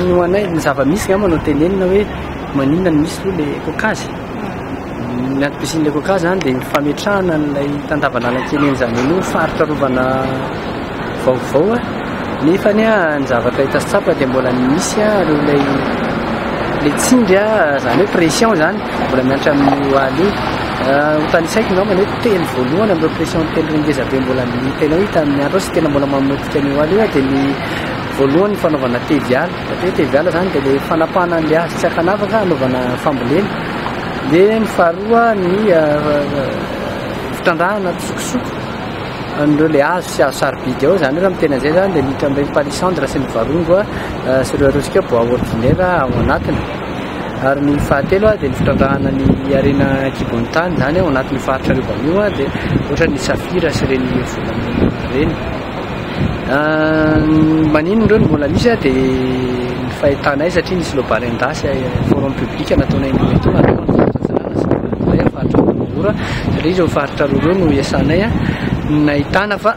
Ny ho anay ny zava-misy angamba no tenenina hoe maninona no misy aloha le kokazy. Ny antom-pisian'ilay kokazy zany dia fametrahana an'ilay tandavan'Alankely zany hoe ny faritra arovana vaovao nefa ny ny zavatra hita sy tsapa dia mbola misy ary ilay le tsindry zany hoe pression zany mbola miantra amin'ny hoaly io. Ho tanisaiko angamba nefa Teny voalohany amin'ireo pression telo ngeza be mbola nitenao hita amin'ny andro sy tena mbola mamotika ny oaly dia ny voalohany ny fanaovana teviala. Dia teviala izany dia ilay fanapahana an'ilay azy tsy ankanavaka anaovana fambolena. Dia ny faharoa ny fitrandrahana tsokosoko an'ireo ilay azo sy azo sarobidy ao izany raha mitena izay izany dia miditra amin'ireny palissandre sy ny varongo sy ireo resika bois ordinaire ao anatiny. Ary ny fahatelo dia ny fitrandrahana ny harena an-kibon'ny tany, izany ao anatin'io faritra arovana io dia ohatra ny safira sy ireny volamena ireny. Maninona ireo no mbola misy dia ny fahitanay satria nisy lobarin-dasy forum public nataonay indroa ito ary faritra Mahora satria izao faritra roa ireo no iasanay nahitana fa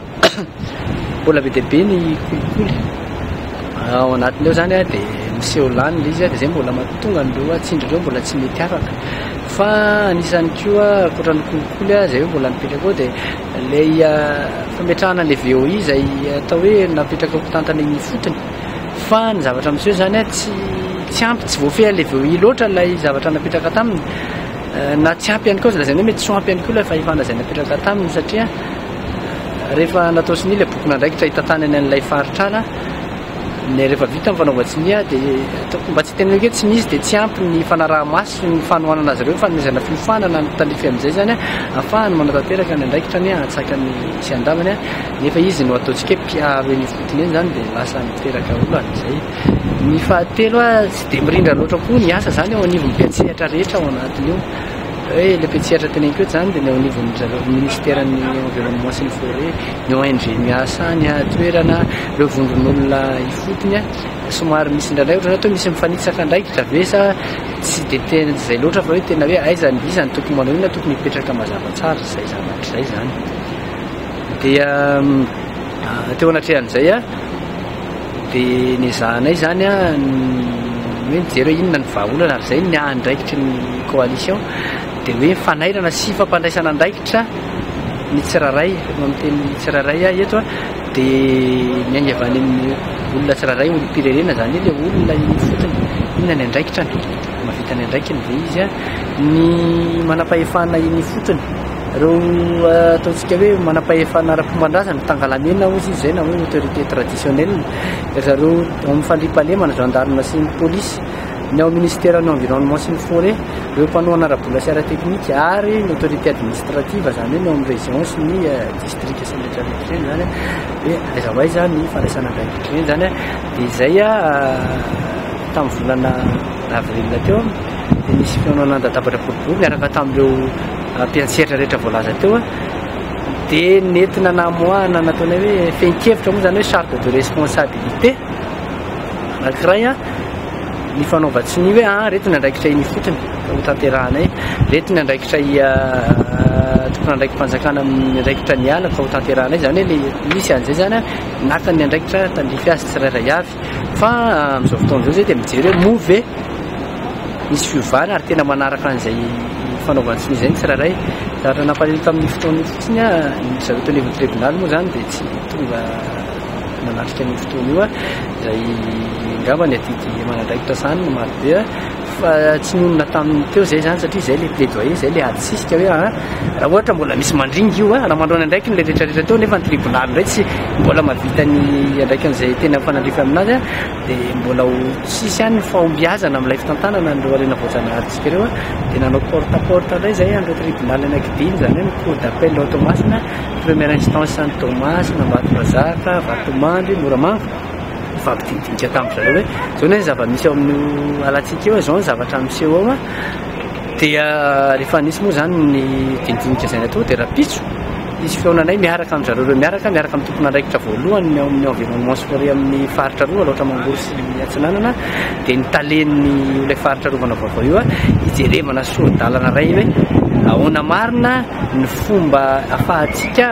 Mbola be dia be ny kolikoly. Ao anatin'ireo izany dia miseho lany ilay izy dia izay mbola mahatonga an'ireo tsindry ireo mbola tsy mety afaka. Fa anisany koa ankoatra ny kolikoly izay hoe mbola mipetraka ao dia ilay fametrahana ilay VOI izay atao hoe napetraka ho mpitantana eny ifotony. Fa ny zavatra miseho izany tsy tsy ampy, tsy voafehy an'ilay VOI loatra ilay zavatra napetraka taminy. Na tsy ampy ihany koa aza lazaina hoe mety tsy ho ampy ihany koa ilay fahefana izay napetraka taminy satria. Rehefa natao sonia ilay bokin'andraikitra hitantanany an'ilay faritrana, ny rehefa vita ny fanaovan-tsonia dia ataoko mba tsy teneniko hoe tsy misy dia tsy ampy ny fanaraha-maso ny fanohanana azy ireo, fanomezana fiofanana ny mpitalify amin'izay izany an, hahafahany manatanteraka ny andraikitra ny hahatsaka ny tsy handaminy an, nefa izy no ataontsika hoe mpiaro eny ifotony eny izany dia lasa miteraka olana izay. Ny fahatelo an, tsy dia mirindra loatra koa ny asa izany eo anivon'ny mpiantsehatra rehetra ao anatin'io. Hoe ilay mpiantsehatra teneniko eto izany dia ny eo anivon'ny zareo minisiteran'ny environnement sy ny forêt, ny ONG miasa any an-toerana, ireo vondron'olona ifotony. Somary misy indraindray ohatran'ny hoe toa misy mifanitsaka andraikitra ve sa tsy dia tena tsy izay loatra fa hoe tena hoe aiza ny iza no tokony manao inona tokony hipetraka mazava tsara izay izany hatrizay izany. Dia teo anatrehan'izay a. Dia nezahanay izany ny hoe mijery hoe inona ny vahaolana ary izay ny ahandraikitry ny coalition dia hoe fanairana sy fampandraisana andraikitra ny tsirairay no amin'ny teny tsirairay ahy eto dia miainga avy any amin'ny olona tsirairay olom-pirenena izany hoe ilay olona iny fotsiny inona ny andraikitrany. Mahavita ny andraikiny ve izy? Ny manam-pahefana eny ifotony, ireo ataontsika hoe manam-pahefana ara-pomban-drazana, Tangalamena hozy izy izay na hoe autorité traditionnelle, ry zareo ao amin'ny fandriampahalemana, gendarmes sy ny polisy, ny ao minisiteran'ny environnement sy ny forêt, ireo mpanohana ara-bola sy ara-teknika ary ny autorité administrative, izany hoe ny ao amin'ny région sy ny district sy ny rehetra rehetra ireny izany hoe aiza ho aiza ny fandraisana andraikitra ireny izany dia izay Tamin'ny volana avril teo dia nisy fihaonana an-databatra boribory niaraka tamin'ireo mpiantsehatra rehetra voalaza teo dia nentina namoahana nataonay hoe fehin-kevitra moa izany hoe charte de responsabilité anankiray ny fanaovan-tsy ny hoe reto ny andraikitra iny ifotony hotanterahanay reto ny andraikitra tomponandraiki-panjakana amin'ny andraikitra ny ala ka hotanterahanay izany hoe misy an'izay izany naka ny andraikitra tandrify azy tsirairay avy Fa amin'izao fotoana izao izay dia mijery hoe moa ve misy fiovana ary tena manaraka an'izay fanaovana sonia izay ny tsirairay. Raha ny nampalahelo tamin'io fotoana io fotsiny aho, ny zareo teo anivon'ny tribonaly moa izany dia tsy tonga nanatrika an'io fotoana io izay angamba ny adidy aman'andraikitra sahaniny no marobe. Fa tsy nonina tamin'ny teo izay izany satria izay ilay plaidoyer, izay ilay adisisika hoe an, raha ohatra mbola misy mandringa io an, raha mandroana andraikiny ilay rehetrarehetra teo nefa ny tribonaly indray tsy mbola mahavita ny andraikin'izay tena mifanandrify aminazy an, dia mbola ho tsisy ihany ny fahombiazana amin'ilay fitantanana an'ireo harena voajanaharintsika ireo an, dia nanao porte à porte indray izay an'ireo tribonaly anankidimy, izany hoe ny cour d'appel ao Toamasina, première instance any Toamasina, Ambatondrazaka, Vatomandry, Moramanga. Nifampidinika tamin-dry zareo hoe izao anie ny zava-misy ao amin'io alantsika io, izao ny zavatra miseho ao. Dia rehefa nisy moa izany ny didinika izay natao dia rahampitso nisy fihaonanay miaraka amin-dry zareo ireo miaraka, miaraka amin'ny tompon'andraikitra voalohany ao amin'ny environnement scolaire amin'ny faritra roa, Alaotra Mangoro sy Atsinanana, dia ny talen'ny ilay faritra arovana vaovao io hijerevana sori-dalana iray hoe ahoana marina ny fomba ahafahantsika.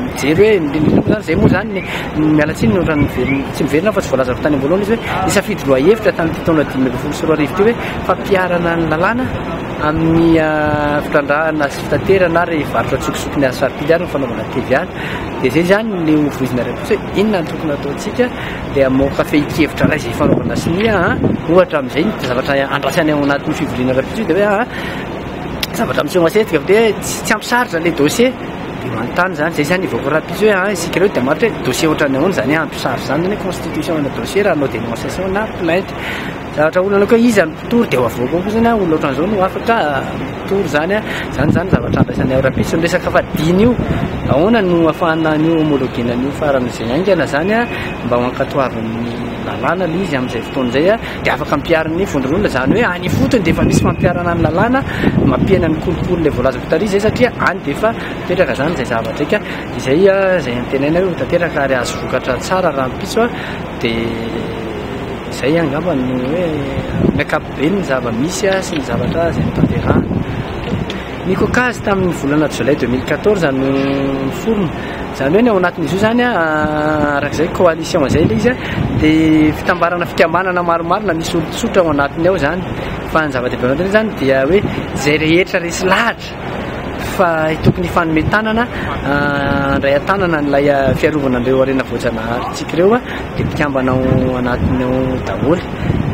mijery hoe indrindra indrindra izay moa izany ny miala tsiny ny ohatran'ny miverina tsy miverina fa tsy voalazako tany am-boalohany izy hoe nisafidy lohahevitra tamin'ity taona dimy ambin'ny folo sy roa arivo ity hoe fampiharana ny lalàna amin'ny ah, fitrandrahana sy fitaterana ary varotra tsokosoko ny asarpily ary ny fanaovana TVA dia izay izany ny hovoizina iray kosa hoe inona ny tokony ataontsika dia mamoaka fehin-kevitra iray izay fanaovana sonia ah, ohatra amin'izay ny zavatra andrasany ao anatin'ny fivoriana ara-pitsio dia hoe ah, zavatra miseho masetika fa dia tsy tsy ampy sarotra ilay dossier Dia manontany izany, izay izany evoka rahampitso hoe an, isika ireo dia maty hoe dossier ohatran'ny ahoana izany ampy sary izany izany hoe constitution ana dossier raha hanao dénonciation na plainte. Zavatra olana koa iza no mpitory dia ho avoaka ao koa izany an, olona ohatran'izao no afaka mpitory izany an, izany izany zavatra andraisanay ao rahampitso. Ny resaka fadiana io, ahoana no afahana an'io homologuena an'io farany izay haingana izany an, mba ho ankatoavin'ny lalàna aloha izy amin'izay fotoana izay an, dia afaka ampiharin'ny vondron'olona izany hoe any ifotony dia efa misy fampiharana ny lalàna, mampiaina ny kolikoly ilay voalaza. Taria izay satria any dia efa tanteraka izany izay zavatra eka izay izay antenaina hoe ho tanteraka ary hahazo vokatra tsara rahampitso dia izay angamba ny hoe ny ankapobeny ny zava-misy sy ny zavatra izay notanterahana. Ny kôkazy tamin'ny volana jolay 2014 no niforona. Izany hoe ny ao anatin'izy io izany arak'izay coalition izay ilay izy dia fitambarana fikambanana maromaro na misy olon-tsotra ao anatiny ao izany. Fa ny zava-dehibe ao anatin'izany dia hoe izay rehetra resy lahatra fa tokony hifanome tanana handray an-tanana an'ilay fiarovana an'ireo harena voajanaharintsika ireo dia mpikambana ao anatiny ao daholo.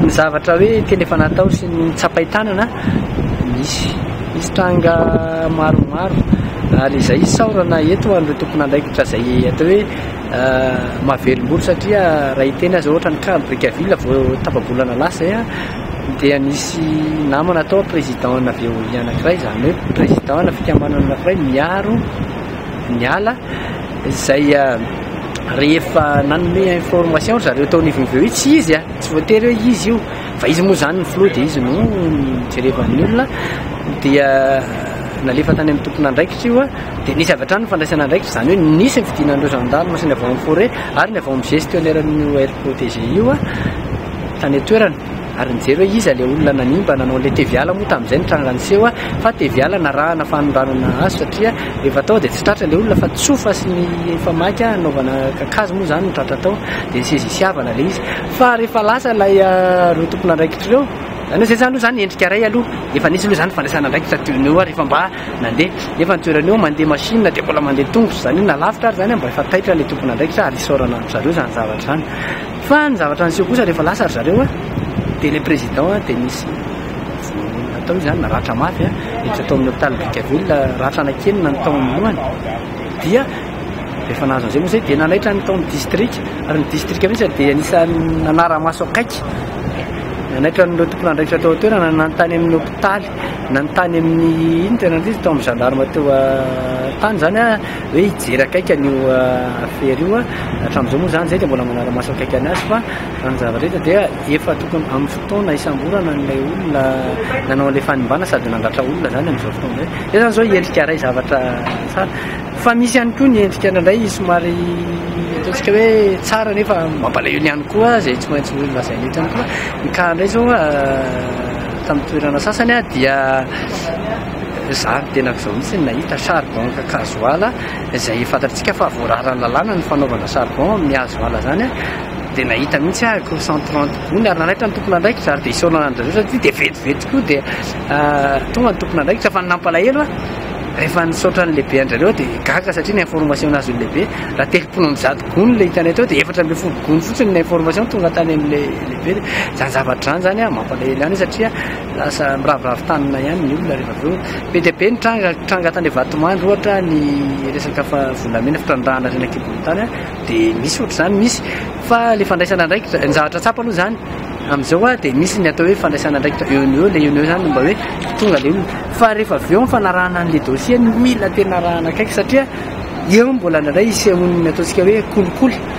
Ny zavatra hoe tena efa natao sy ny tsapain-tanana misy misy tranga maromaro ary izay isaorana eto an'ireo tompon'andraikitra izay atao hoe mahavelombolo satria raha iteny azy ohatra ny cas Brickaville vao tapa-bolana lasa dia nisy namana atao président ana Veolia anakiray izany hoe président ana fikambanana anakiray miaro ny ala izay ah, rehefa nanome information ry zareo tao anivon'ny Veolia tsy izy ah, tsy voatery hoe izy io fa izy moa izany ny filoha dia izy no jerevan'ny olona dia nalefa tany amin'ny tompon'andraikitra io ah, dia nisy avy hatrany ny fandraisana andraikitra izany hoe nisy ny fidinan'ireo gendarme sy ny avao amin'ny forêt ary ny avao amin'ny gestionnaire-n'ny OR protégé io ah, tany an-toerana ary nijery hoe iza ilay olona nanimba nanao an'ilay teviala moa tamin'izay ny tranga niseho a! fa teviala narahana fanondranana azy satria rehefa tao dia tsy tratra ilay olona fa tsofa sy ny efa maika nanaovana kakazo moa izany no tratra tao dia nisezisiavana ilay izy fa rehefa lasa ilay ireo tompon'andraikitra ireo izany hoe izay izany aloha izany endrika iray aloha efa nisy aloha izany fandraisana andraikitra teo noho eo ary efa mba nandeha nefa ny toerana eo mandeha machine dia mbola mandeha tongotra izany hoe na lavitra ary izany mba efa taitra ilay tompon'andraikitra ary isaorana an-dry zareo izany zavatra izany Fa ny zavatra niseho kosa rehefa lasa ry zareo dia ilay président dia nisy natao izany na ratra mafy niditra tao amin'ny hôpital Brickaville ratra anaky enina ny taon'ny lohany dia rehefa nahazo an'izay moa izay dia nanaitra ny tao amin'ny district ary ny district mihitsy dia anisan'ny nanara-maso akaiky nanaitra an'ireo tompon'andraikitra tao an-toerana nanontany amin'ny hôpitaly Nanontany amin'ny inn teo anatreha izy tao amin'ny gendarme teo an-tany izany an, hoe hijery akaiky an'io affaire io an, hatramin'izao moa izany izay dia mbola manara-maso akaiky an'azy fa raha ny zavatra hita dia efa tokony amin'ny fotoana hisamborana an'ilay olona nanao an'ilay fanimbana sady nandratra olona izany amin'izao fotoana izao. Izay izany izao endrika iray zavatra tsara fa misy ihany koa ny endrika indraindray somary ataontsika hoe tsara nefa mampalahelo ihany koa izay tsy maintsy lazaina eto ihany koa ny cas indray izao an, Tamin'ny toerana sasany dia izaho no tenako izao mihitsy no nahita charbon gasoil izay fantatsika fa voararan'ny lalàna ny fanaovana charbon amin'ny gasoil izany dia nahita mihitsy aho akory cent trente gony ary nanaitra ny tompon'andraikitra ary dia isaorana an'i Andrianarivelo satria dia vetivety tokoa dia tonga ny tompon'andraikitra fa ny nampalahelo aho rehefa nisaotra ny lehibe an-dry zareo aho dia gaga satria ny information nazon'ny lehibe raha telopolo amby zato gony ilay hitanay teo dia efatra ambin'ny folo gony fotsiny ny information tonga tany amin'ilay Izany zavatra izany izany an, mampalahelo ihany satria lasa miraviravy tanana ihany ny olona rehefa avy eo. Be dia be ny tranga, tranga tany Vatomandry ohatra ny resaka volamena, fitrandrahana ireny an-kibon'ny tany an, dia misy ohatr'izany, misy. Fa ilay fandraisana andraikitra, ny zavatra tsapa aloha izany amin'izao an, dia misy ny atao hoe fandraisana andraikitra eo no eo, ilay eo no eo izany no mba hoe tonga ilay olona. Fa rehefa avy eo ny fanarahana an'ilay dossier no mila tena arahana akaiky satria eo mbola indraindray isehoan'ny ataontsika hoe kolikoly.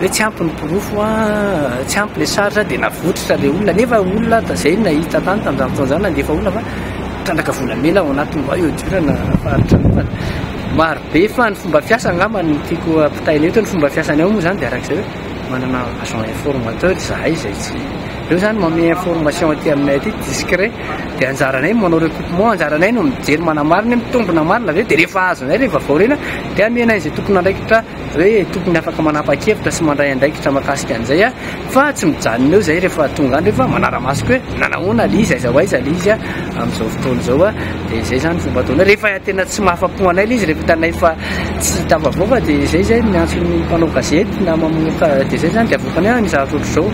hoe tsy ampy ny porofo a, tsy ampy le charge dia navotritra le olona nefa olona ta zay nahita tany tamin'izany fotoana izany nandefa olona fa trandraka volamena ao anatiny vao eo diorana faritra anokana maro be fa ny fomba fiasa angamba ny tiako ampitaina eto ny fomba fiasany ao moa izany dia arak'izay hoe manana agent informateur izahay izay tsy reo izany mame information aty aminay aty discret dia anjaranay manao recoupement anjaranay no mijery manamarina mitombina marina avy eo dia rehefa azonay rehefa vaorina dia amenay izay tompon'andraikitra hoe tokony afaka manapa-kevitra sy mandray andraikitra mahakasika an'izay aho fa tsy mijanona eo izay rehefa tonga any rehefa manara-maso koa hoe nanahoana ilay izy, aiza ho aiza ilay izy amin'izao fotoana izao a, dia izay izany fomba ataonay rehefa tena tsy mahafa-po anay ilay izy, rehefa hitanay fa tsy tafavoaka dia izay izay no miantso ny mpanao gazety na mamoaka dia izay izany dia avoakanay an ny zavatra ohatr'izao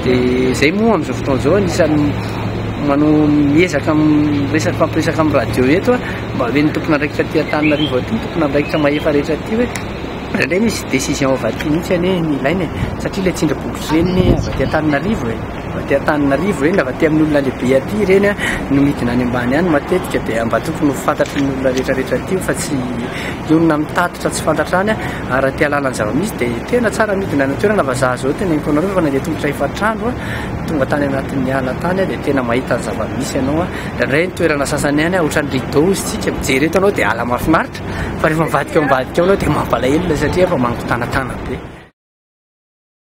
dia izay moa amin'izao fotoana izao anisan'ny mano miezaka miresaka, mifampiresaka amin'ny radio eto a. Mba omen'ny tompon'andraikitra aty Antananarivo aty, tompon'andraikitra mahefa rehetra aty hoe indraindray misy décision avy aty mihitsy anie ny ilaina e, satria ilay tsindry bokotra ireny anie avy aty Antananarivo e, avy aty Antananarivo ireny, avy aty amin'ny olona lehibe aty ireny an, no midina any ambany any matetika dia mba tokony ho fantatry ny olona rehetra rehetra aty io fa tsy ny olona mitatitra tsy fantatra any an, ary raha te hahalala ny zava-misy dia tena tsara midina any an-toerana fa za zao teneniko anareo fa nandeha tongotra efatr'andro aho tonga tany anatin'ny ala tany aho dia tena mahita ny zava-misy ianao an. Indraindray ny toerana sasany any ohatran'ny rideau izy tsika mijery eto anao dia ala mahafinaritra fa rehefa mivadika ao ambadika ao ianao dia mampalahelo ilay satria efa mangitanatana be.